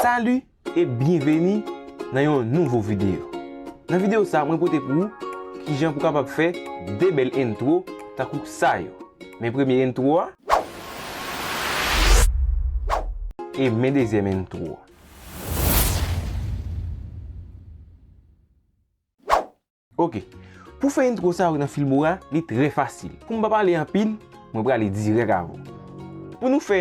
Salut e byenveni nan yon nouvo video Nan video sa mwen pote pou ou kijan pou kapab fè 2 bèl intro tankou sa yo Men premye intro a e men dezyèm intro a. Ok. Pou fè intro sa yo nan Filmora, li trè fasil. Pou m pa pale anpil, mwen prale dirèk avè w. Pou nou fè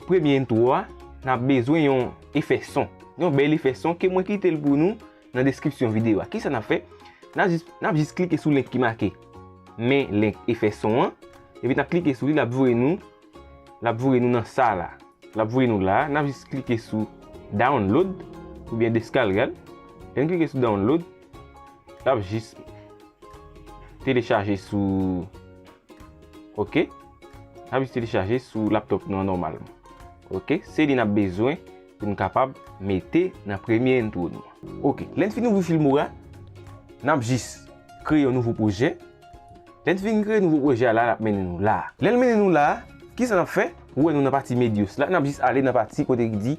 premye intro a, n ap bezwen yon efè son. Yon bèl efè son ke mwen kite l pou nou nan deskripsyon videyo a. Kisa n ap fè? N ap jis klike sou link ki make Men link efè son an. Epi n ap klike sou li, l ap voye nou L ap voye nou nan sa la. L ap voye nou la. N ap jis klike sou download oubyen deskalgad. Lè n klike sou download, Lap jis telechaje sou Ok Lap jis telechaje sou laptop nou an nòmal Ok Se li nap bezwen pou nou kapab mete nan premye entwo nou an Ok Lè n fin ouvri Filmora Nap jis kreye yon nouvo pwojè Lè n fin kreye nouvo pwojè a la lap mennen nou la a Lè l mennen nou la a Kisa nap fè Ou wè nou nan pati Medios la Nap jis ale nan pati kote ki di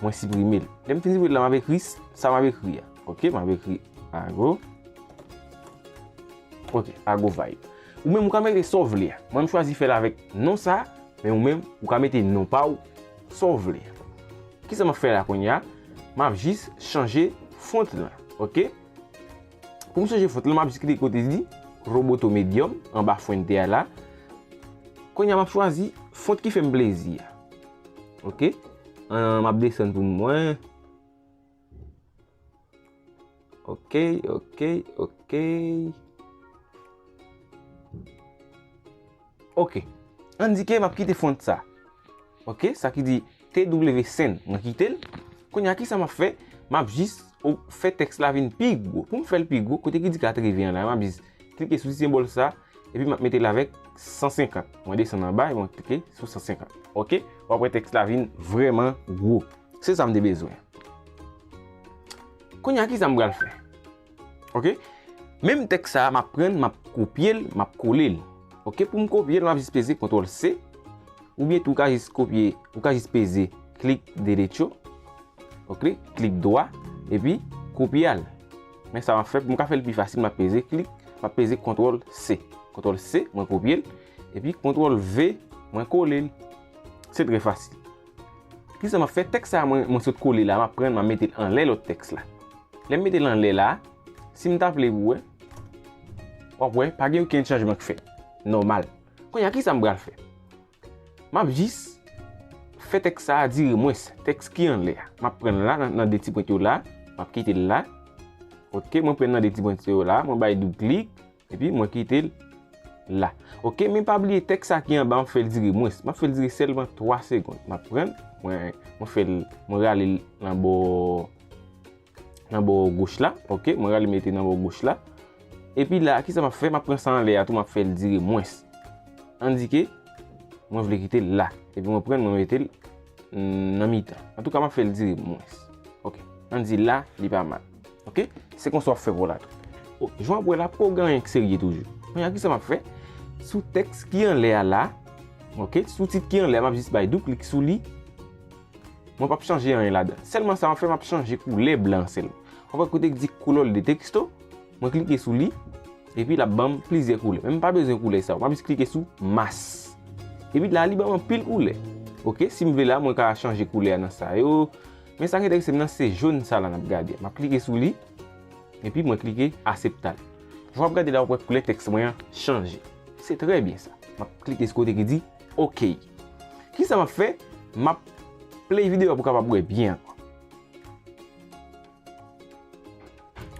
Mwen siprime l. Lè m fin siprime l la, m ap ekri sa m ap ekri a. Ok, m ap ekri ago. Ok, ago vibe. Ou menm ou ka mete sa w vle a. Mwen m chwazi fè l avèk non sa a. Men ou menm, ou ka mete non pa w, sa w vle. Ki sa m ap fè la kounye a? M ap jis chanje font lan. Ok. Pou m chanje font lan, m ap jis klike kote li di Roboto Medium, anba Fuente a la. Kounye a, m ap chwazi font ki fè m plezi a. Ok map desann pou m wè. Ok ok ok. Ok an di ke map kite font sa. Ok sa ki di TW Sen mwen kite l. Kounye a kisa map fè map jis fè tèks la vin pi gwo. Pou m fè l pi gwo kote ki di 80 an la map jis. Klike sou ti senbòl sa, epi map mete l avèk 150. Mwen desann anba e mwen klike sou 150. Ok, wap wè tèks la vin vrèman gwo. Se sa m te bezwen. Kounya kisa m pral fè? Ok, menm tèks sa map pran l, map kopye l, map kole l. Ok, pou m kopye l, map jis peze kontwòl se. Oubyen tou ou ka jis kopye, ou ka jis peze klik delecho. Ok, klik dwa, epi kopye al. Men sa map fè, pou m ka fè l pi fasil map peze klik, map peze kontrol C. Kontrol C, mwen kopye l, epi kontrol V, mwen kole l. Se trè fasil. Kisa map fè, tèks sa a mwen sot kole la, map pran l map mete l anlè lòt tèks la. Lè m mete l anlè la, si m ta vle pou wè, wap wè, pa gen okenn chanjman k fèt. Nòmal. Kounye a kisa m pral fè? M ap jis fè tèks sa a dire mwens tèks ki anlè a. M ap pran l la nan 2 ti pwent yo la, m ap kite l la. Ok, mwen pran l nan 2 ti pwent yo la, mwen bay doub klik, epi mwen kite l la. Ok, men pa bliye tèks sa ki anba an, m fè l dire mwens. M ap fè l dire sèlman 3 segond. M ap pran l, mwen fè l, mwen rale l nan bò. nan bò goch la, ok, mwen rale mete nan bò goch la, epi la, ki sa map fè, map pran sa anlè a tou, map fè l dire mwens, endike, mwen vle kite l la, epi mwen pran mwen mete l nan mitan, an tou ka map fè l dire mwens, ok, an di la, li pa mal, ok, se konsa wap fè pou la tou, ok, jwa wap wè la, pou gen yon k serye toujou, mwen a ki sa map fè, sou teks ki anlè a la, ok, sou tit ki anlè a, map jis bay dou klik sou li. Mwen pap chanje anyen ladan. Sèlman sa map fè map chanje koulè blan sèl. Ou wè kote ki di color de texto, mwen klike sou li epi lap banm plizyè koulè. Men mpa bezwen koulè sa yo. Map jis klike sou mas. Epi la li banm anpil koulè. Ok, sim vle la mwen ka chanje koulè a nan sa yo. Men sak entèresem nan se jaune sa la nap gade. Map klike sou li epi mwen klike aseptal. Jan wap gade la wap wè koulè tèks mwen an chanje. Se trè byen sa. Map klike sou kote ki di Ok. Kisa map fè? Map play video a pou kapab wè byen ankò.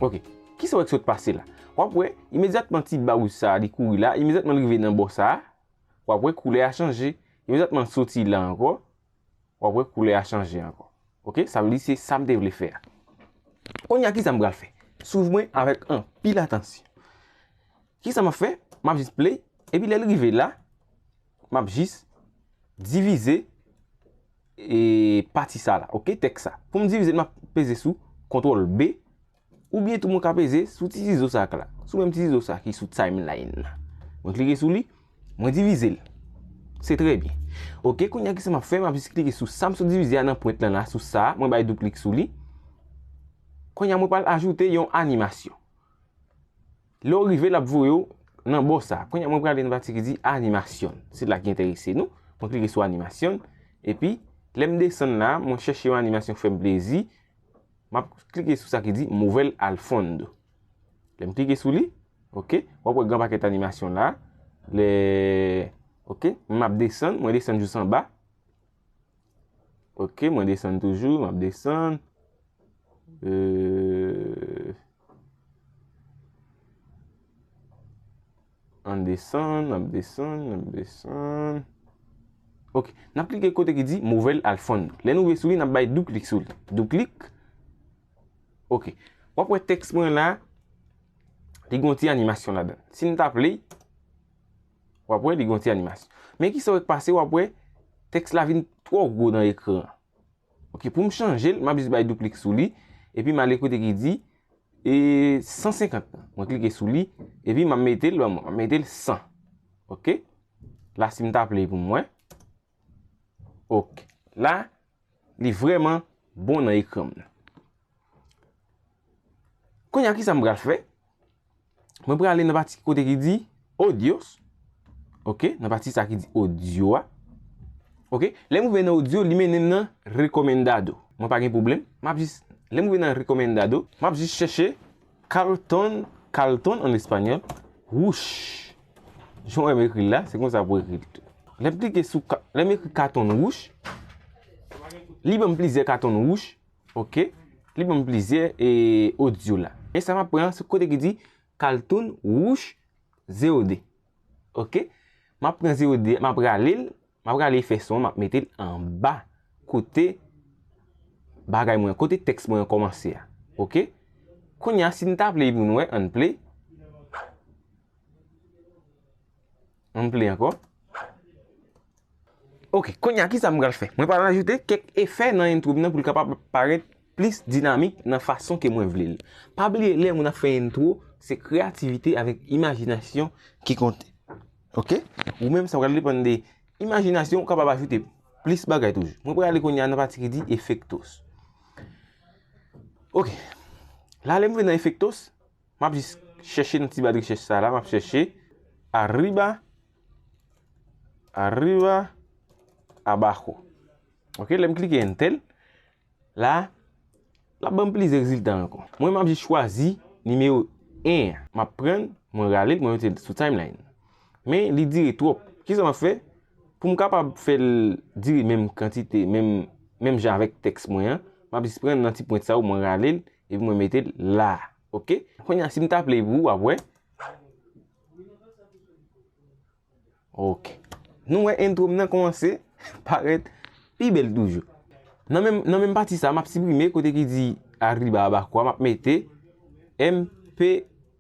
Ok. Kisa wè ki sot pase la? Wap wè, imedyatman ti ba wouj sa a li kouri la, imedyatman li rive nan bò sa a, wap wè koulè a chanje. Imedyatman l soti la ankò, Wap wè koulè a chanje ankò. Ok sa vle di se sam te vle fè a. Konnya kisa m pral fè? Swiv mwen avèk anpil atansyon. Kisa map fè? Map jis play epi lèl rive la map jis divize e pati sa la ok tèks sa. Poum divizel map peze sou kontrol B. Ou byen tou mwen ka peze sou ti zizo sa k la. Sou menm ti zizo sa ki sou timeline la. Mwen klike sou li. Mwen divize l. Se trè byen. Ok, kounye a kisa m ap fè? M ap jis klike sou sa m sot divize a nan pwent lan la, sou sa a. Mwen bay dou klik sou li. Kounye a mwen pral ajoute yon animasyon. Lè ou rive l ap voye ou nan bò sa. Kounye a mwen pral ale nan pati ki di animasyon. Se la ki enterese nou. Mwen klike sou animasyon. E pi, lè m desann la, mwen chèche yon animasyon k fè m plezi. M ap klike sou sa ki di mover al fondo. Lè m klike sou li, ok, w ap wè gran pakèt animasyon la. Lè, ok, m ap desann, mwen desann jous an ba. Ok, mwen desann toujou, m ap desann. Eee. An desann, n ap desann, n ap desann. Ok, n ap klike kote ki di Movel Alfon. Lè nou rive sou li, n ap bay dou klik sou li. Dou klik. Ok, w ap wè tèks mwen la, li gen yon ti animasyon ladan l. Si m ta play, w ap wè li gen yon ti animasyon. Men ki sa w wè k pase, w ap wè tèks la vin twò gwo nan ekran an. Ok poum chanjel map jis bay douklik sou li epi male kote ki di e 150 nan mwen klike sou li epi map metel banm wè map metel 100 ok la sim ta play poum wè ok la li vreman bon nan ekranm nan kounya kisa m pral fè. Mwen prale nan pati kote ki di Audios. Ok, nan pati sa ki di Audio a. Ok, lè mwen rive nan Audio, li mennen m nan Recomendado. Mwen pa gen pwoblèm. M ap jis, lè mwen rive nan Recomendado, m ap jis chèche Carlton, Kalton an espanyòl, Wouch! Jan w wè m ekri l la, se konsa pou ekri l tou. Lè m klike sou, lè m ekri Carlton Wouch, li ban m plizyè Carlton Wouch. Ok li banm plizyè audio la. E sa map pran se kote ki di kaltoun wouch 0 2. Ok map pran 0 2 map rale l map rale efè son an map mete l anba kote bagay mwen kote tèks mwen an kòmanse a ok. Kounya si n ta play pou n wè ann play. An pli ankò. Ok, konya ki sa m pral fè? Mwen pral ajoute kèk efè nan intro m nan pou l kapab parèt plis dinamik nan fason ke mwen vle l. Pa bliye lè moun ap fè intro, se kreyativite avèk imajinasyon ki konte. Ok? Ou menm sa pral depann de imajinasyon ou kapab ajoute plis bagay toujou. Mwen pral ale konya nan pati ki di efektos. Ok, la lè m vin nan efektos, M ap jis chèche nan ti ba rechèch sa la, m ap chèche Arriba, Arriba, Abajo. Ok, lè m klike Enter, la, l ap ban m plizyè rezilta ankò. Mwen m ap jis chwazi nimewo 1 an. M ap pran l, mwen rale l, mwen mete l sou Timeline. Men, li dire twòp. Ki sa m ap fè? Pou m kapab fè l dire menm kantite, menm jan avèk tèks mwen an, m ap jis pran nan ti pwent sa yo, mwen rale l, Epi mwen mete l la. Ok. Kounye a si m ta play pou ou w ap wè. Ok. Nou wè intro m nan kòmanse parèt pi bèl toujou. Nan menm pati sa m ap siprime kote ki di Arriba Abaco a m ap mete MP3.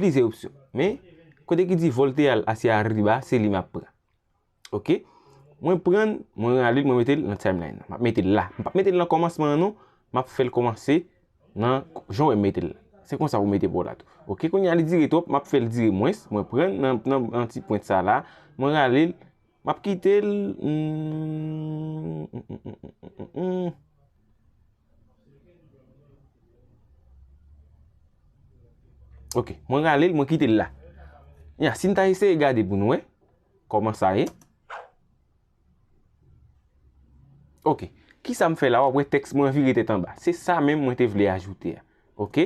Plizyè opsyon. Men, kote ki di volte al asye arriba, se li map pran. Ok. Mwen pran, mwen rale, mwen mete l nan timeline nan. Map mete l la. Mwen pap mete l nan komansman an non. Map fè l komanse nan jan wè m mete l la. Se konsa pou mete pa w la tou. Ok. Kounye a li dire twòp, map fè l dire mwens. Mwen pran nan ti pwent sa la. Mwen rale l. Map kite l humm. Ok mwen rale l mwen kite l la. Nya si n ta eseye gade pou n wè kòman sa ye. Ok kisa m fè la wap wè tèks mwen vire tèt anba. Se sa menm mwen te vle ajoute a. Ok.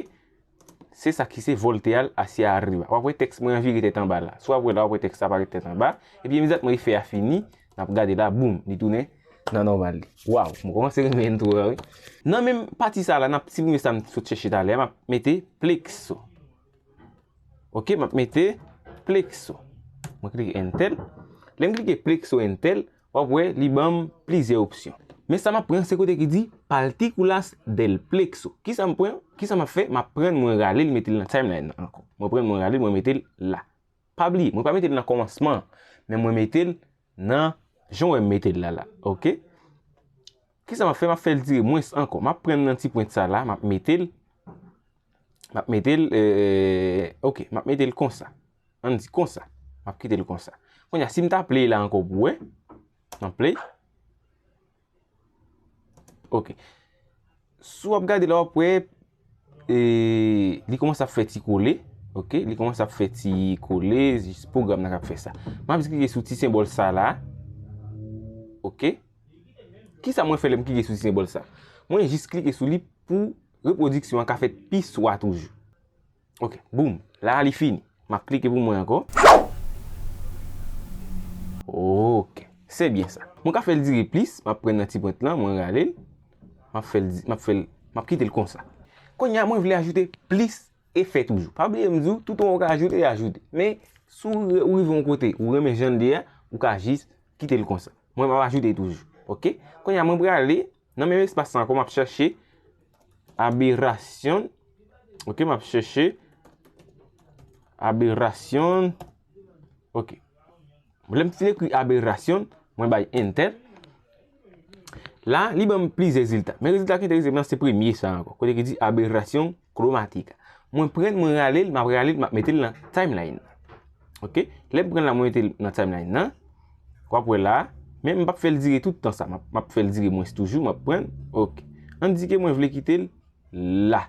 Se sa ki se volte al hacia arriba. Wap wè tèks mwen an vire tèt anba la. Si wap wè la wap wè tèks la parèt tèt anba. Epi imediatman efè a fini, nap gade la boom li tounen nan nòmal li. Waww mwen kòmanse renmen entwo a wi. Nan menm pati sa la nap siprime sa m t sot chèche talè a map mete plexo. Ok map mete plexo. Mwen klike entel. Lèm klike plexo entel. Wap wè li banm plizyè opsyon. Men sa map pran se kote ki di Paltikulas del plekso. Kisa m pran? Kisa map fè? Map prann mwen rale l mete l nan timeline nan ankò. Mwen prann mwen rale l mwen mete l la. Pa bliye mwen pa mete l nan kòmansman an. Men mwen mete l nan jan w wè m mete l la la. Ok. Kisa map fè? Map fè l dire mwens ankò. Map prann nan ti pwent sa la map mete l. Map mete l eee ok. Map mete l konsa. An n di konsa. M ap kite l konsa. Kounye a, si m ta play la ankò pou wè. M ap play. Ok. Si w ap gade la w ap wè, e, li kòmanse ap fè ti kole. Ok. Li kòmanse ap fè ti kole. Jis pwogram nan k ap fè sa. M ap jis klike sou ti senbòl sa la. Ok. Ki sa mwen fè lè m klike sou ti senbòl sa? Mwen jis klike sou li pou repwodiksyon an ka fèt pi swa toujou. Ok boom la li fini map klike pou mwen anko. Ok se byen sa. Mwen ka fel dire plis map pran nan ti pwent lan mwen ralel map fel map fel map kitel konsa. Konnya mwen vle ajoute plis efè toujou pa bliye m diw tout an ou ka ajoute ajoute men si ou rive yon kote ou renmen janl ye a ou ka jis kitel konsa mwen map ajoute toujou ok konnya mwen prale Nan menm espas lan ankò m ap chèche aberasyon ok m ap chèche aberasyon ok lè m fin ekri aberasyon mwen bay entè la li ban m plizyè rezilta men rezilta ki enterese m lan se premye sa ankò kote ki di aberasyon. Chromatic. Mwen prann mwen ralel, map ralel map metel nan timeline. Ok, lem prann la mwen metel nan timeline nan. Wap wè la, men m pap fèl dire tout tan sa, map fèl dire mwens toujou, map prann. Ok, an di ke mwen vle kitel la.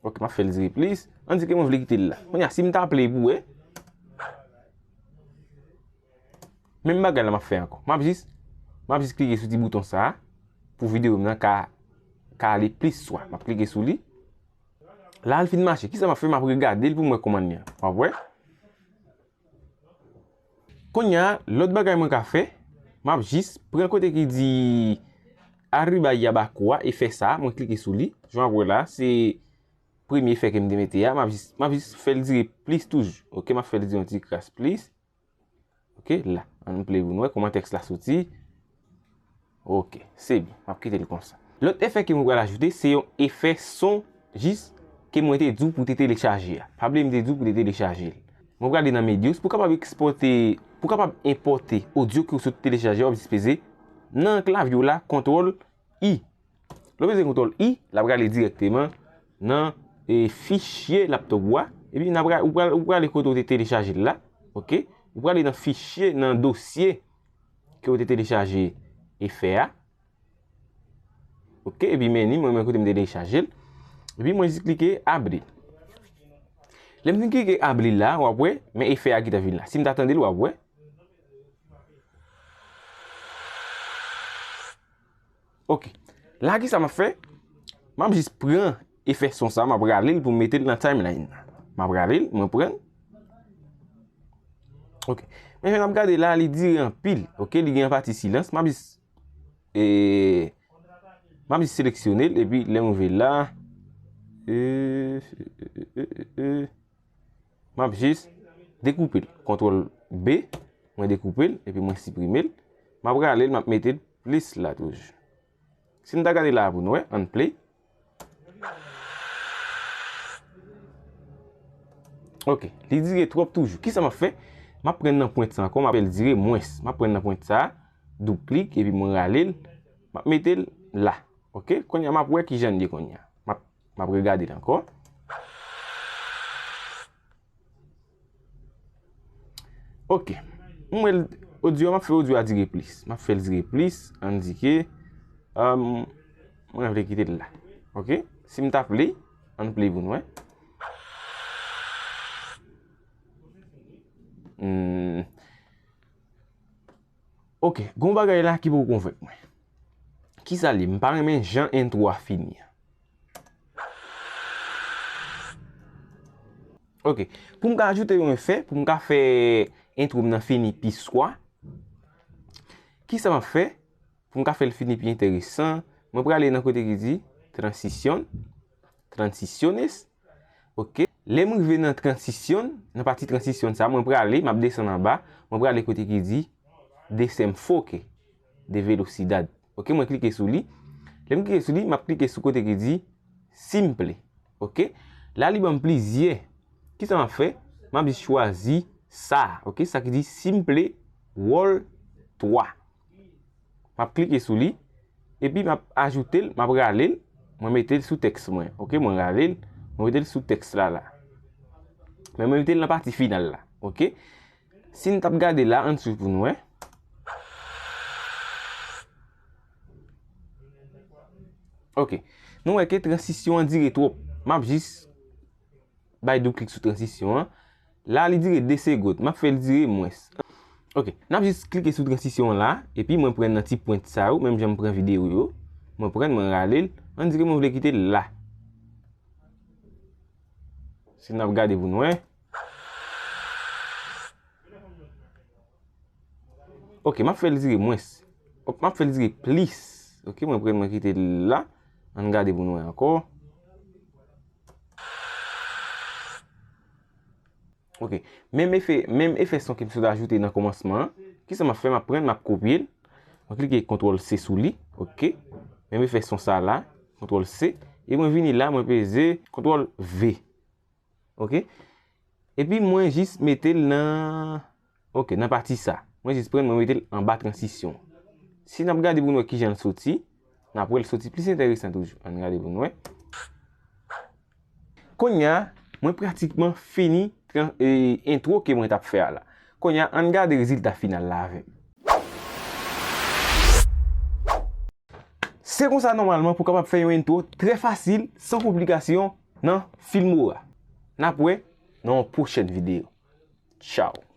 Ok, map fèl dire plis, an di ke mwen vle kitel la. Mwen ya sim ta play pou wè. Menm bagay la map fè ankò. Map jis map jis klike sou ti bouton sa pou video m nan ka ka ale plis swa. Map klike sou li. La al fin mache. Kisa map fè map regade l pou mwen kòman li an. Wap wè. Kounya lòt bagay mwen ka fè map jis pran kote ki di Arriba Yabaco a e fè sa a. Mwen klike sou li. Jan wap wè la se premye fè ke m te mete a. Map jis map jis fè l dire plis toujou. Ok map fè l dire yon ti kras plis. Ok, la. An nou play pou nou wè kouman tèks la soti. Ok, se byen. M ap kite l konsa. Lòt efè ke mwen pral ajoute, se yon efè son jis ke mwen te di w pou te telechaje a. Pa bliye m te di w pou te telechaje l. Mwen prale nan Medios. Pou kapab ekspòte, pou kapab enpòte odyo ke w sot telechaje a, w ap jis peze nan klavye w la, kontwòl. I. Lè w peze kontwòl I, l ap rale dirèkteman nan fichye laptop ou a. Epi nan pral, ou pral, ou pral ale kote ou te telechaje l la. Ok. Ou pral ale nan fichye, nan dosye ke ou te telechaje efè a. Ok. Epi meni, mwen mwen kote m te telechaje l. Epi mwen jis klike abli. Lè m fin klike abli la, w ap wè, men efè a ki ta vin la. Si m ta tande l, w ap wè. Ok. La ki sa m ap fè? M ap jis pran efè son sa, m ap rale l pou m mete l nan timeline nan. M ap rale l, mwen pran. Ok. Men jan n ap gade la, li dire anpil. Ok, li gen yon pati silans. M ap jis, e, m ap jis seleksyone l, epi lè m rive la, e, e, e, e, e, e, e. Map jis dekoupel. Kontrol B. Mwen dekoupel epi mwen siprimel. Map ralel map metel plis la toujou. Si nou ta gade la a pou nou wè. Ann play. Ok. Li dire twop toujou. Kisa map fè? Map pren nan pwent sa ankò. Map fèl dire mwens. Map pren nan pwent sa a. Doub klik epi mwen ralel. Map metel la. Ok. Konya map wè kijan li ye konya. Map M ap regade l ankò. Ok. M wè l. Odyo a, m ap fè odyo a dire plis. M ap fè l dire plis. An di ke. Mwen vle kite l la. Ok. Si m ta play. An nou play pou nou wè. Hum. Ok gon bagay la ki poko konvenk mwen. Kisa li ye? M pa renmen jan intro a fini an. Ok pou m ka ajoute yon efè pou m ka fè intro m nan fini pi swa. Kisa m ap fè pou m ka fè l fini pi enteresan. Mwen prale nan kote ki di transition, transiciones. Ok, lè m rive nan transition, nan pati transition sa, mwen prale, m ap desann anba, mwen prale kote ki di Desenfoque de velocidad. Ok, mwen klike sou li. Lè m klike sou li, m ap klike sou kote ki di Simple. Ok, la li ban m plizyè. Ki sa m ap fè? M ap jis chwazi sa a. Ok, sa ki di Simple Roll 3. Map klike sou li. Epi map ajoutel, map ralel. Mwen metel sou teks mwen. Ok mwen ralel. Mwen metel sou teks la la. Men mwen metel nan pati final la. Ok. Si nou tap gade la an sou pou nou e. Ok. Nou weke transisyon an dire twop. Map jis bay do klik sou transisyon an. La li dire 2 segot. Map fel dire mwens. Ok. Nap jis klike sou transisyon an la. Epi mwen pran nan ti pwent sa yo. Menm jan m pran video yo. Mwen pran mwen rale l. An dire mwen vle kite l la. Si nap gade pou nou we. Ok. Map fel dire mwens. Ok. Map fel dire plis. Ok. Mwen pran mwen kite l la. An gade pou nou we anko. Ok, menm efè, menm efè son ke m sot ajoute nan kòmansman an, ki sa m ap fè, m ap pran, m ap kopye l, mwen klike kontrol se sou li, ok, menm efè son sa la, kontrol se, e mwen vini la, mwen peze, kontrol ve, ok, epi mwen jis mete l nan. Ok nan pati sa. Mwen jis prann mwen mete l anba transisyon an. Si n ap gade pou n wè ki jan l soti, n ap wè l soti plis enteresan toujou. An n gade pou n wè. Kounya mwen pratikman fini entwo ke mwen t ap fè a la. Kounya an n gade rezilta final la avè m. Se konsa nòmalman pou w kapab fè yon entwo trè fasil san konplikasyon nan Filmora. N ap wè nan yon pwochèn videyo. Tchaw!